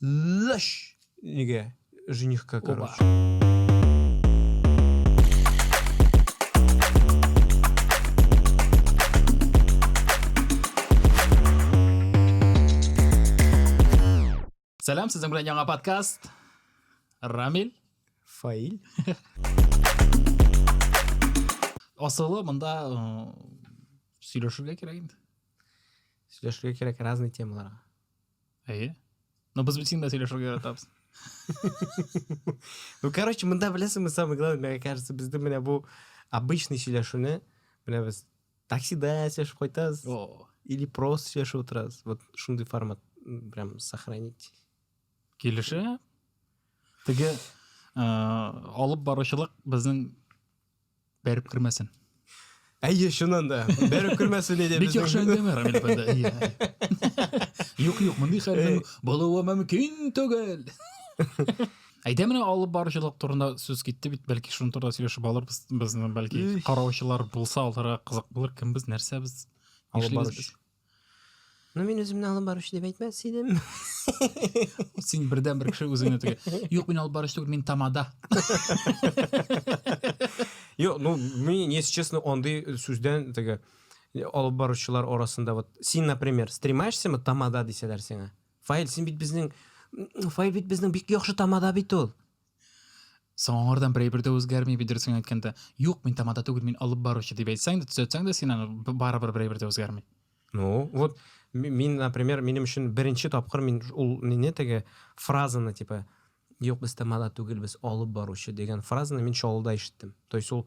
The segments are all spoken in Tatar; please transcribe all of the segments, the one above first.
Лыш! Неге? Женихка, короче. Сәлам, сезнең белән яңа подкаст. Рамиль. Фаиль. Асылы монда э, сөйләшергә кирәк инде. Сөйләшергә кирәк разный темаларга. Әйе. Но без бит инде сөйләшергә яратабыз. Ну, короче, монда беләсеңме, самое главное, мне кажется, бездә менә бу обычный сөйләшүне, менә без таксида сөйләшеп кайтабыз. О. Или просто сөйләшеп утырабыз. Вот шундый формат прям сохранить. Килешә. Теге э, алып баручылык безнең Бәреп кермәсен. Әйе, чыннан да. Бәреп кермәсен иде. Бик яхшы әңгәмә, Рамил әфәнде. Әйе. Юк, юк, мондый хәлнең булуы мөмкин түгел. Әйдә менә алып баручылык турында сүз китте бит, бәлки шуның турында сөйләшеп алырбыз. Безне бәлки караучылар булса, аларга кызык булыр, кем без, нәрсә без, алып баручы. Ну, мин үземне алып баручы дип әйтмәс идем. Син бердән бер кеше үзеңне тегә. Юк, мин алып баручы түгел, мин тамада. Юк, ну, мин, если честно, андый сүздән теге алып баручылар арасында вот син, например, стремаешься тамада дисәләр сиңа. Фаил, син бит безнең Фаил бит безнең бик яхшы тамада бит ул. соңардан берәйбер дә үзгәрми бедерсең әйткәндә юк мин тамада түгел мин алып баручы дип әйтсәң дә төзәтсәң дә син аны барыбер берәйбер дә үзгәрми ну вот мин например минем өчен беренче тапкыр мин ул не теге фразаны типа юк без тамада түгел без алып баручы дигән фразаны мин чаллыда ишеттем то есть ул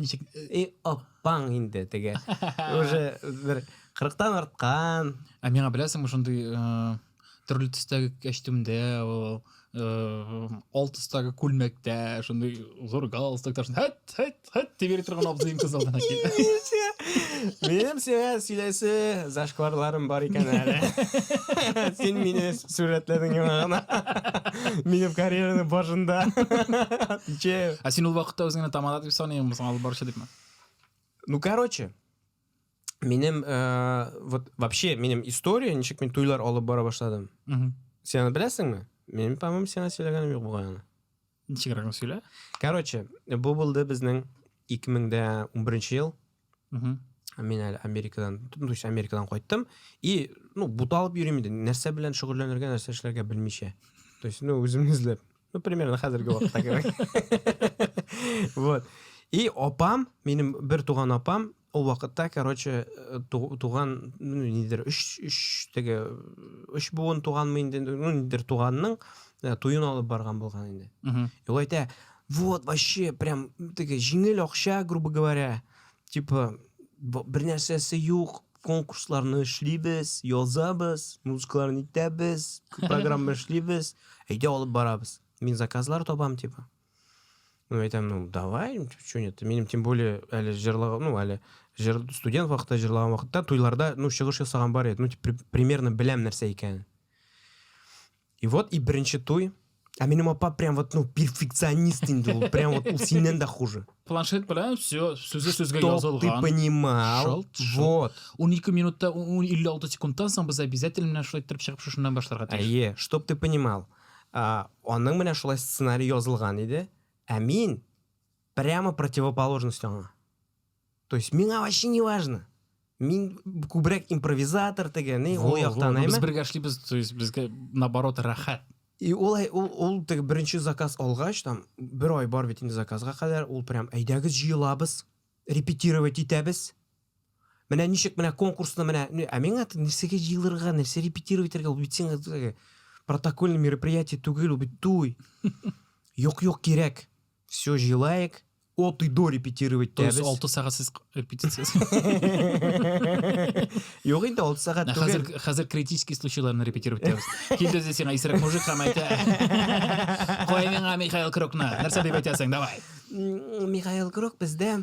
ничек и апаң инде теге уже бер кырыктан арткан ә миңа беләсеңме шундый төрле төстәге кәчтүмдә ул ол төстәге күлмәктә шундый зур галстукта һәт һәт һәт дип йөри торган абзыем көз алдына килде минем сиңа сөйләсе зашкварларым бар икән әле син мине Сурәтләдең яңа гына. Минем карьераның башында. Отвечаю. Ә син ул вакытта үзеңне тамада дип саныймы, соң алып баручы дипме? Ну, короче, минем э, вот вообще минем история, ничек мин туйлар алып бара башладым. Сен аны беләсеңме? Мин, по-моему, сиңа сөйләгәнем юк бугай аны. Ничегрәк генә сөйлә. Короче, бу булды безнең 2011 ел. Угу. Мин әле Америкадан, ну, то Америкадан кайттым. И, ну, буталып йөрим инде. Нәрсә белән шөгыльләнергә, нәрсә эшләргә белмичә. То есть, ну, үземне эзләп. Ну, примерно хәзерге вакытта кебек. Вот. И апам, минем бер туган апам, Ул вакытта, короче, э, туган, ну, нидер, үш, үш, теге, үш буын туган мы инде, ну, нидер, туганның э, туен алып барган булган инде. И ул әйтә, вот, вообще, прям, теге, жиңел акча, грубо говоря, типа, бер нәрсәсе юк, конкурсларны эшлибез, язабыз, музыкаларны итәбез, программа эшлибез, әйдә алып барабыз. Мин заказлар табам, типа. Ну, я там, ну, давай, что нет, минем тем более, әле жырлау, ну, әле жыр, студент вакытта жырлаган вакытта туйларда, ну, чыгыш ясаган бар иде, ну, типа, примерно беләм нәрсә икәнен. И вот, и беренче туй, А минем апа прям вот, ну, перфекционист инде ул. Прям вот ул синнән дә хуже. Планшет белән все сүзе сүзгә язылган. Чтоб ты понимал. Шалт, шалт. Вот. 12 минутта 56 секундтан соң без обязательно шулай торып чыгып шушыннан башларга тиеш. Әйе, чтоб ты понимал. ә, аның менә шулай сценарий язылган иде, ә мин прямо противоположность аңа. То есть миңа вообще не важно. Мин күбрәк импровизатор теге, ни, ул яктан әйме. Без бергә эшлибез, то есть безгә наоборот рәхәт. И ул ул ул теге беренче заказ алгач, там бер ай бар бит инде заказга кадәр, ул прям әйдәгез җыелабыз, репетировать итәбез. Менә ничек менә конкурсны менә ну, ә миңа нәрсәгә җыелырга, нәрсә репетировать итәргә, ул бит син э, протокольный мероприятие түгел, ул бит туй. Юк, юк, кирәк. Все җыелайык. От и до репетировать То есть 6 сәгатьсез репетиция. Юк инде 6 сәгать түгел. Хәзер хәзер критический случайларны репетировать итәбез. Килде дә сиңа исерек мужик һәм әйтә. Кой миңа Михаил Крокны. Нәрсә дип әйтәсең? Давай. Михаил Крок бездә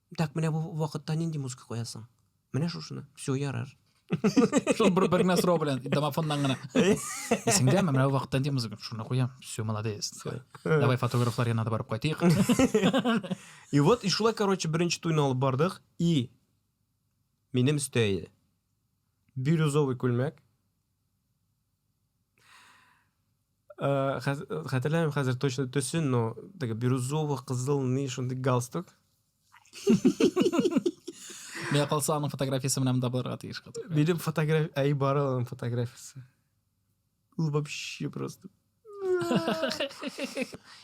Так, менә бу вакытта нинди музыка куясың? Менә шушыны. Все, ярар. Шул бер бер генә сорау белән домофоннан гына. Исеңдәме, менә бу вакытта нинди музыка? Шуны куям. Все, молодец. Давай фотографлар янына да барып кайтыйк. И вот, и шулай, короче, беренче туйны алып бардык. И минем өстә иде. Бирюзовый күлмәк. Э, хәтерләмим хәзер точно төсен но теге бирюзово кызыл ни шундый галстук миңа калса аның фотографиясе менән дә булырга тиеш минем фотография әй бар аның фотографиясе ул вообще просто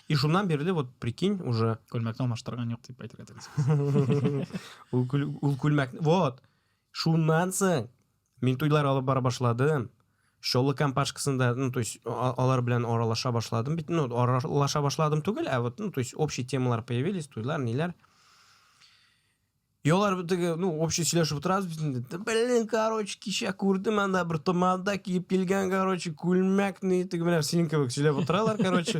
и шуннан бирле вот прикинь уже күлмәкне алмаштырган юк дип әйтергә тиеш ул күлмәк вот Шуннан соң мин туйлар алып бара башладым. Чоллы компашкасында, ну, то есть, алар белән аралаша башладым бит. Ну, аралаша башладым түгел, ә вот, ну, то есть, общие темалар появились, туйлар, ниләр. И алар битеге, ну, общий сөйләшеп утырабыз бит инде. Блин, короче, кичә күрдем анда бер томанда киеп килгән, короче, күлмәкне, теге менә синең кебек сөйләп утыралар, короче.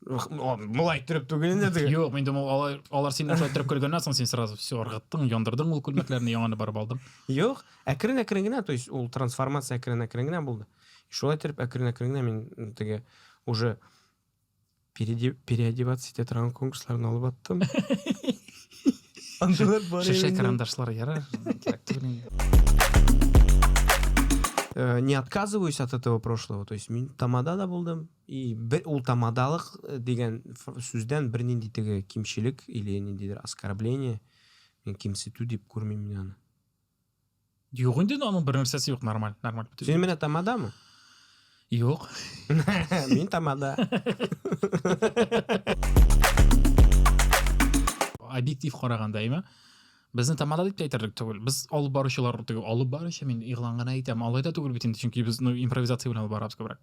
Мулай төреп түгел инде теге. Юк, мин думал алар алар синнән шулай төреп көлгәннән соң син сразу все ыргыттың, яндырдың ул күлмәкләрне, яңаны барып алдың. Юк, әкрен-әкрен генә, то есть ул трансформация әкрен-әкрен генә булды. Шулай төреп әкрен-әкрен генә мин теге уже переодеваться итә торган конкурсларны алып аттым. Андыйлар бар. Шешә карандашлар ярар. Э, не отказываюсь от этого прошлого. То есть мин тамада да булдым, И бер ул тамадалык э, дигән сүздән бернинди теге кимчелек или ниндидер оскорбление мин кимсетү дип күрмим мин аны Юк инде аның бер нәрсәсе юк, нормаль, нормаль. Син менә тамадамы? Юк. Мин тамада. Объектив караганда, әйме? Безне тамада дип әйтерлек түгел. Без алып баручылар түгел. Алып баручы мин игълан гына әйтәм. Алай да түгел бит инде, чөнки без ну импровизация белән алып барабыз күбрәк.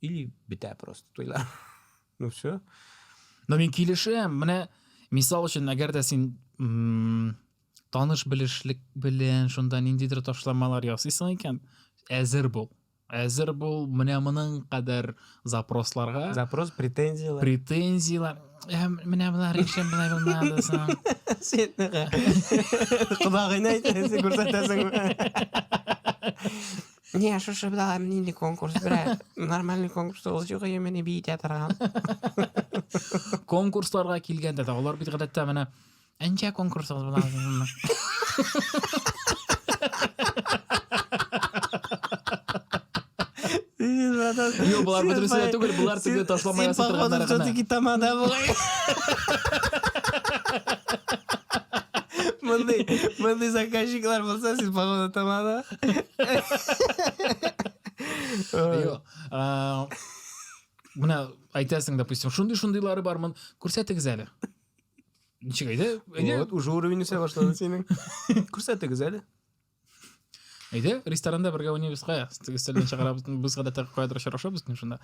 или бетә просто туйлар ну все но мин килешәм менә мисал өчен әгәр дә син таныш белешлек белән шунда ниндидер ташламалар ясыйсың икән әзер бул әзер бул менә моның кадәр запросларга запрос претензиялар претензиялар менә болар өчен болай булмады соң сен құдағыны әйтәсең күрсәтәсең Не, шушы бит алай нинди конкурс, бля. Нормальный конкурс ул юк яме не бит ятырган. Конкурсларга килгәндә дә алар бит гадәттә менә Әнҗә конкурсы була. Юк, болар бөтенесе дә түгел, болар теге ташлама ясап торганнар гына. Син тамада була. Мондый, мондый заказчиклар булса, син погода тамада. Менә әйтәсең, допустим, шундый шундыйлары бармын, күрсәтегез әле. Ничек әйдә? Әйдә. Вот уже уровень үсә башлады синең. Күрсәтегез әле. Әйдә, ресторанда бергә уйнабыз кая? Стеллен чыгарабыз, без гадәттә каядыр очрашабыз мин шунда.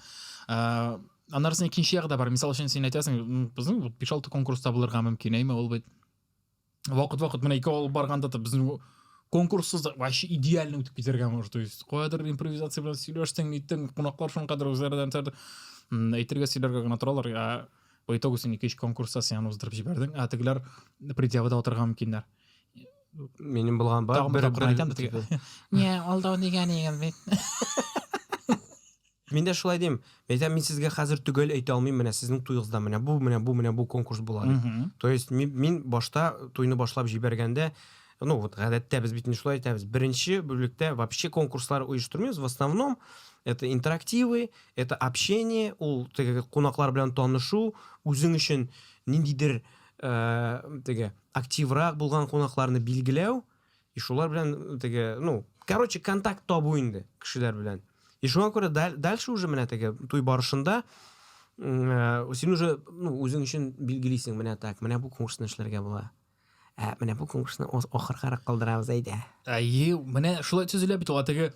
Аннарсын икенче ягы да бар. Мисал өчен син әйтәсең, безнең 5-6 конкурста булырга мөмкин, әйме ул бит. вакыт вакыт менә икәү алып барганда да безнең конкурссыз да вообще идеально үтеп китәргә может то есть каядыр импровизация белән сөйләштең ниттең кунаклар шуның кадәр үзләреннән әйтергә сөйләргә генә торалар ә по итогу син ике өч конкурста сиан уздырып җибәрдең ә тегеләр предъявада утырырга мөмкиннәр минем булган бар бер бер не алдау дигән егет бит Мин дә шулай дим. Әйтәм, мин сезгә хәзер төгәл әйтә алмыйм, менә сезнең туегызда менә бу, менә бу, менә бу конкурс була дип. То есть мин, мин башта туйны башлап җибәргәндә, ну вот гадәттә без бит шулай әйтәбез. Беренче бүлектә вообще конкурслар оештырмыйбыз, в основном это интерактивы, это общение, ул теге кунаклар белән танышу, үзең өчен ниндидер э, теге активрак булган кунакларны билгеләү, и шулар белән теге ну короче контакт табу инде кешеләр белән и шуңа күрә дальше уже менә теге туй барышында э, син уже ну үзең өчен билгелисең менә так менә бу конкурсны эшләргә була ә менә бу конкурсны ахыргарак калдырабыз әйдә әйе менә шулай төзелә бит ул теге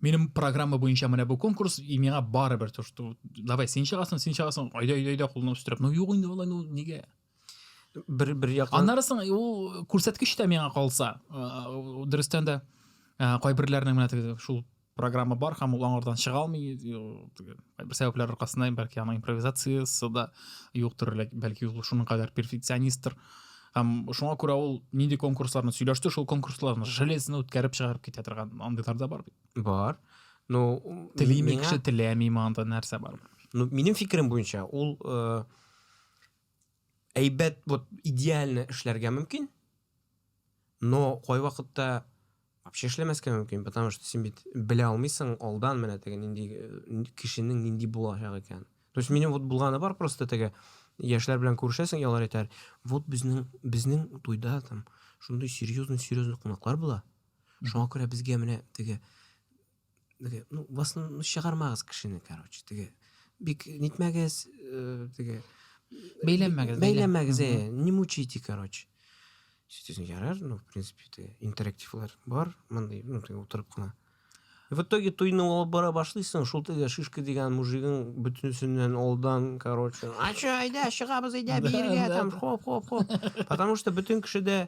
минем программа буенча менә бу конкурс и миңа барыбер то что давай син чыгасың син чыгасың айда айда айда кулны үстереп ну юк инде болай ну нигә бер бер яктан аннары соң ул күрсәткеч тә миңа калса дөрестән дә кайберләрнең менә теге шул программа бар һәм ул аңардан чыга алмый бер сәбәпләр аркасында бәлки аның импровизациясе да юктыр бәлки ул шуның кадәр перфекционистр һәм шуңа күрә ул нинди конкурсларны сөйләште шул конкурсларны железно үткәреп чыгарып китә торган андыйлар да бар бит бар ну телими кеше теләми монда нәрсә бар ну минем фикерем буенча ул э, әйбәт вот идеально эшләргә мөмкин но кайвакытта вообще эшләмәскә мөмкин потому что син бит белә алмыйсың алдан менә теге нинди э, кешенең нинди булачак икән то есть минем вот булганы бар просто теге яшьләр белән күрешәсең и алар әйтәләр вот безнең безнең туйда там шундый серьезный серьезный кунаклар була шуңа күрә безгә менә теге теге ну в основном ну чыгармагыз кешене короче теге бик нитмәгез э, теге бәйләнмәгез бәйләнмәгез э не мучите короче сөйтесің ярар ну в принципе теге интерактивлар бар мындай ну теге отырып кына в итоге туйны алып бара башлыйсың шул теге шишка дигән мужигың бөтенесеннән алдан короче а че айда чыгабыз айда биергә там хоп хоп хоп потому что бөтен кешедә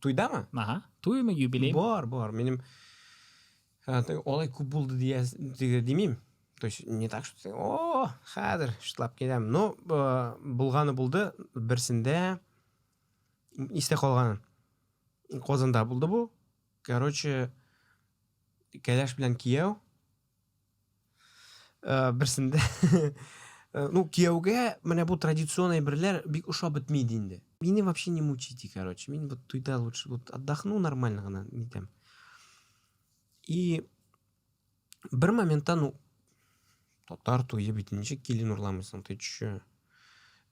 Туйда ма? Аха. Туй ма, юбилей? Бар, бар. Минем олай күп булды дия димим. То есть не так, что о, хәзер шытлап киләм. Но булганы булды, берсендә истә калган. Казанда булды бу. Короче, кәләш белән кияү Э, берсендә э, ну кияүгә менә бу традицион әйберләр бик ошап бетми иде инде мине вообще не мучите короче мин вот туйда лучше вот отдохну нормально гына нитәм и бер моментта ну татар туе бит ничек килен урламыйсың ты че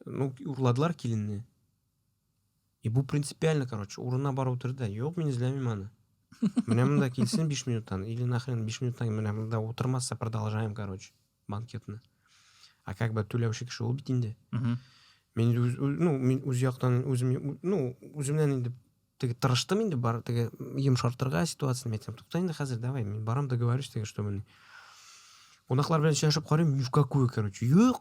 ну урладылар киленне И бу принципиально, короче, урынына барып утыр да, юк, мин эзләмим аны. Менә монда килсен 5 минуттан, или нахрен 5 минуттан менә монда утырмаса, продолжаем, короче, банкетны. А как бы түләүче кеше ул бит инде. Мин үз, ну, мин үз яктан үзем, ну, үземнән инде теге тырыштым инде бар теге йомшартырга ситуацияны әйтсәм тукта инде хәзер давай мин барам договорюсь теге чтобы кунаклар белән сөйләшеп карыйм ни в какую короче юк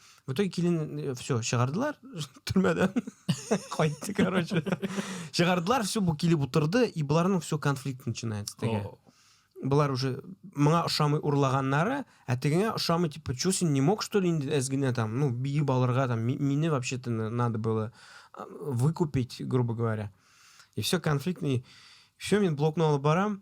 В итоге килен э, все чыгардылар төрмәдән. Кайтты, короче. Чыгардылар, все бу килеп утырды, и боларның все конфликт начинается теге. О, Болар уже моңа ошамый урлаганнары, ә тегеңә ошамый, типа, чё син не мог, что ли, инде әз генә там, ну, биеп алырга там, ми- мине вообще-то на- надо было а, выкупить, грубо говоря. И все конфликтный. Все, мен блокны алып барам,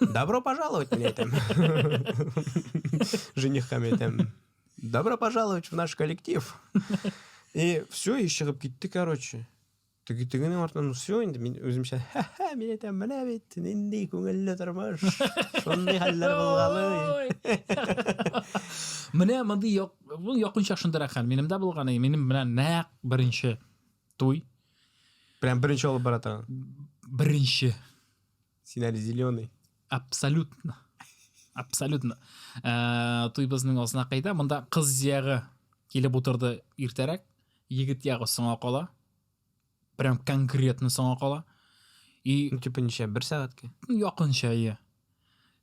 Добро пожаловать, мне там. Женихками там. Добро пожаловать в наш коллектив. И все, и еще ты, короче. тегенең артынан ну все инде мин үземчә ха-ха мин әйтәм менә бит нинди күңелле тормыш шундый хәлләр булгалый менә мондый як бу якынча шундый хәл минем дә булган минем менә нәкъ беренче туй прям беренче алып бара торган беренче Син әле зеленый. Абсолютно. Абсолютно. Э, Туйбызның асына кайда? Монда кыз ягы килеп утырды иртәрәк. Егет ягы соңа кала. Прям конкретно соңа кала. И ну, типа ничә, бер сәгатькә? Ну, якынча, иә.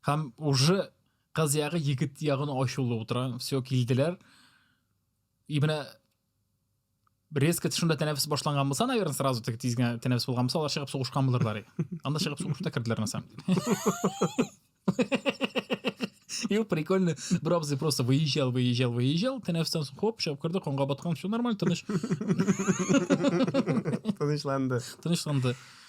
Һәм уже кыз ягы егет ягын ачулы утыра. Все, килделәр. И менә резко шунда тәнәфес башланган булса наверное сразу так тиз генә тәнәфес булган булса алар чыгып сугышкан булырлар анда чыгып сугышып та керделәр на самом деле И прикольно, бер абзый просто выезжал, выезжал, выезжал, тәнәфестән соң хоп, чыгып керде, канга баткан, все нормально, тыныч. Тынычланды. Тынычланды.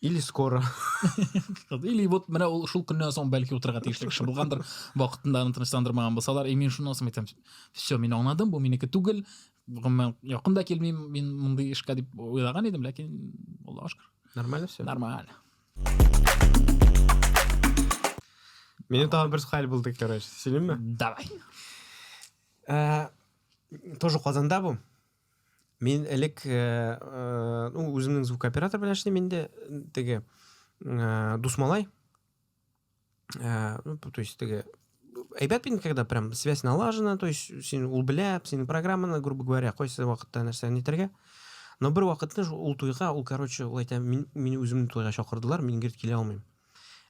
Или скоро. Или вот менә ул шул көннән соң бәлки утырырга тиешле кеше булгандыр, вакытында аны тынычландырмаган булсалар, и мин шуны соң әйтәм. Все, мин аңладым, бу минеке түгел. Гомумән, якын да килмим, мин мондый эшкә дип уйлаган идем, ләкин Аллаһ шөкер. Нормально все. Нормально. Мине тагы бер хәл булды, короче. Сөйлимме? Давай. Э, тоже Казанда бу. Мин элек э, э, ну, үземнең звукооператор белән эшлим инде теге э, Дусмалай. Э, ну, то есть теге әйбәт бит когда прям связь налажена, то есть син ул белә, синең программаны, грубо говоря, кайсы вакытта нәрсә нитәргә. Но бер вакытны ул туйга, ул, короче, ул әйтә, мин, мин үземне туйга чакырдылар, мин герт килә алмыйм.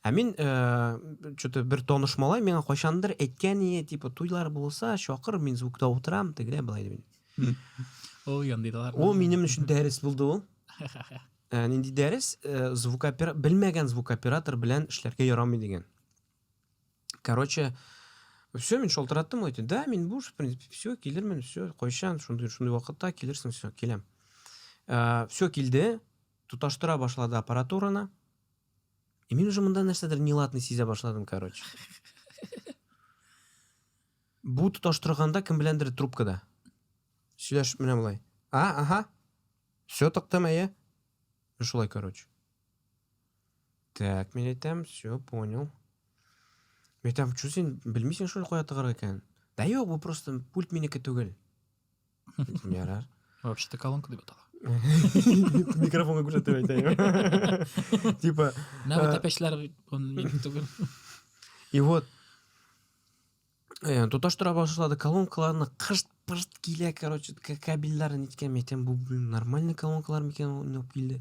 Ә мин э, что-то бер таныш малай миңа кайчандыр әйткән иде, типа туйлар булса, чакыр, мин звукта утырам, тегеләй былай дип. Ул яндыйлар. Ул минем өчен дәрес булды ул. Ә, нинди дәрес? Э, звукопера... Белмәгән звукоператор белән эшләргә ярамый дигән. Короче, все, мин шалтыраттым, әйтте, да, мин буш, в принципе, все, килермен, все, кайчан, шундый, шундый вакытта килерсең, все, киләм. Ә, все килде, тоташтыра башлады аппаратураны, И мин уже монда нәрсәдер неладный сизә башладым, короче. Бу тоташтырганда кем беләндер трубкада. Сөйләш менә болай. А, аха. Все токтым, әйе. Шулай, короче. Так, мин әйтәм, все, понял. Мен әйтәм, чү син белмисең шул кая тыгарга икән? Да юк, бу просто пульт минеке түгел. Әйтеп ярар. Вообще-то колонка дип атала. Микрофонга күрсәтеп әйтәйем. Типа... Менә бу тәпәчләр түгел. И вот, э, тоташтыра башлады колонкаларны кышт пышт килә короче кабельдарын иткән әйтәм бу блин нормальный колонкалар микән уйнап килде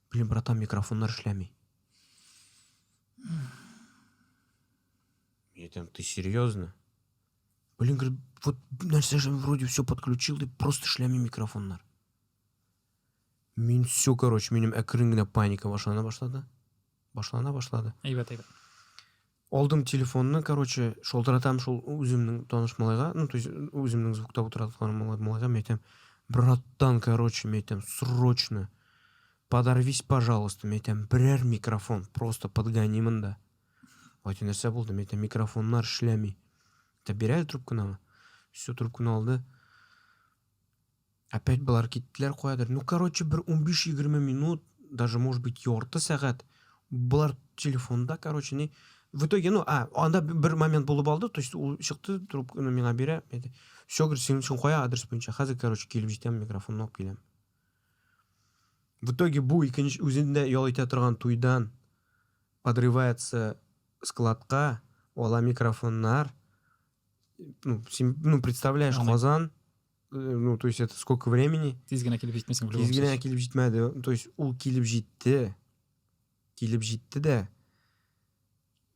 Блин, братан, микрофоннар эшләми. Ятем, ты серьезно? Блин, говорит, вот нәрсә же вроде все подключил, и просто эшләми микрофоннар. Мин все, короче, минем әкрен генә паника башлана башлады. Башлана башлады. Әйбәт, әйбәт. Алдым телефонны, короче, шалтыратам шул үземнең таныш малайга, ну, то есть, үземнең звукта утыраткан малайга, мен әйтәм, братан, короче, мен әйтәм, срочно, подорвись, пожалуйста, мен әйтәм, берәр микрофон, просто подгони монда. Айты нәрсә булды, мен әйтәм, микрофоннар эшләми. Та бирә трубканы, все, трубканы алды. Опять болар киттеләр каядыр. Ну, короче, бер 15-20 минут, даже, может быть, ярты сәгать. Болар телефонда, короче, не... В итоге, ну, а, анда бер момент булып алды, то есть ул чыкты, трубканы миңа бирә, әйтә, все, говорит, синең өчен кая адрес буенча, хәзер, короче, килеп җитәм, микрофонны алып киләм. В итоге бу икенче үзендә ял итә торган туйдан подрывается складка, ала микрофоннар, ну, син, ну, представляешь, Казан, Э, ну то есть это сколько времени тиз генә килеп җитмисең тиз генә килеп җитмәде то есть ул килеп җитте килеп җитте дә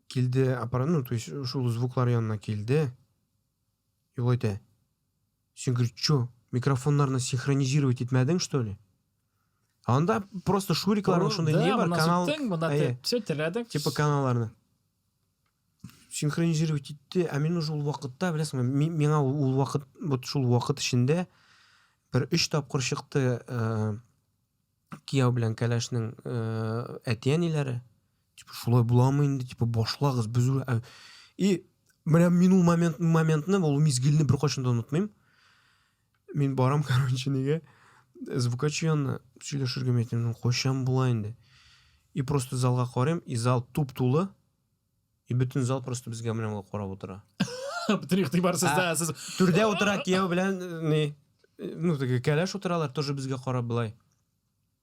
килде аппарат ну то есть шул звуклар янына килде и ул әйтә сен говорит че микрофоннарны синхронизировать итмәдең что ли анда просто шурикларның шундай не бар канал все терәдең типа каналларны синхронизировать итте ә мин уже ул вакытта беләсеңме миңа ул вакыт вот шул вакыт эчендә бер өч тапкыр чыкты э, кияү белән кәләшнең э, әти әниләре типа шулай буламы инде типа башлагыз без ә, и менә мин ул момент моментны ул мизгелне беркайчан да онытмыйм Мин барам, короче, неге? Звукачы янына сөйләшергә мәйтем, кайчан була инде? И просто залга карыйм, и зал туп тулы. И бүтін зал просто безгә менә ул карап утыра. Бүтін игътибар сездә, сез түрдә утыра кияү белән не? Ну, теге кәләш утыралар, тоже безгә карап былай.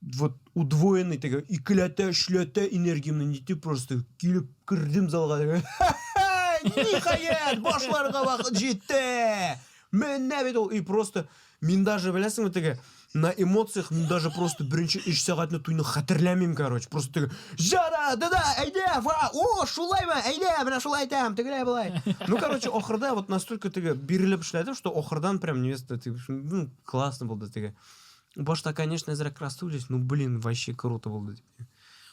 вот удвоенный теге икеләтә өчләтә энергиямне нитеп просто килеп кердем залга ниһаять башларга вакыт җитте менә бит ул и просто мин даже беләсеңме теге на эмоциях мин даже просто беренче өч сәгатьне туйны хәтерләмим короче просто теге жара да да әйдә ва о шулаймы әйдә менә шулай әйтәм тегеләй болай ну короче ахырда вот настолько теге бирелеп эшләдем что ахырдан прям невеста ну классно булды теге Башта, конечно, әзрәк расстроились, ну, блин, вообще круто булды.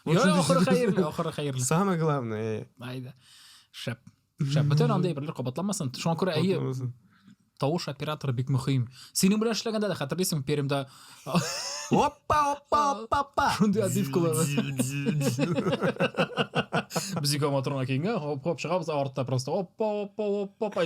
Йо, ахыры хәерле, ахыры хәерле. Самое главное. Айда. Шәп. Шәп. Бөтен анда әйберләр кабатламасын. Шуңа күрә әйе. Тавыш оператор бик мөһим. Синең белән эшләгәндә дә хәтерлисең, Пермьдә. Оппа, оппа, оппа, оппа. Шундый адивкалар. Без ике моторга киенгән, хоп, хоп, чыгабыз артта просто. Оппа, оппа, оппа, оппа.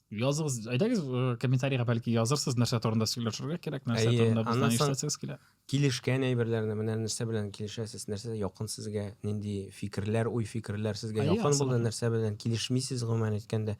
Языгыз, әйдәгез э, комментарийга бәлки язырсыз, нәрсә турында сөйләшергә кирәк, нәрсә Әйе, турында бездән аннан соң- ишетәсегез килә. Килешкән әйберләрне менә нәрсә белән килешәсез, нәрсә якын сезгә, нинди фикерләр, уй фикерләр сезгә Әйе, якын булды, абсолютно. нәрсә белән килешмисез гомумән әйткәндә.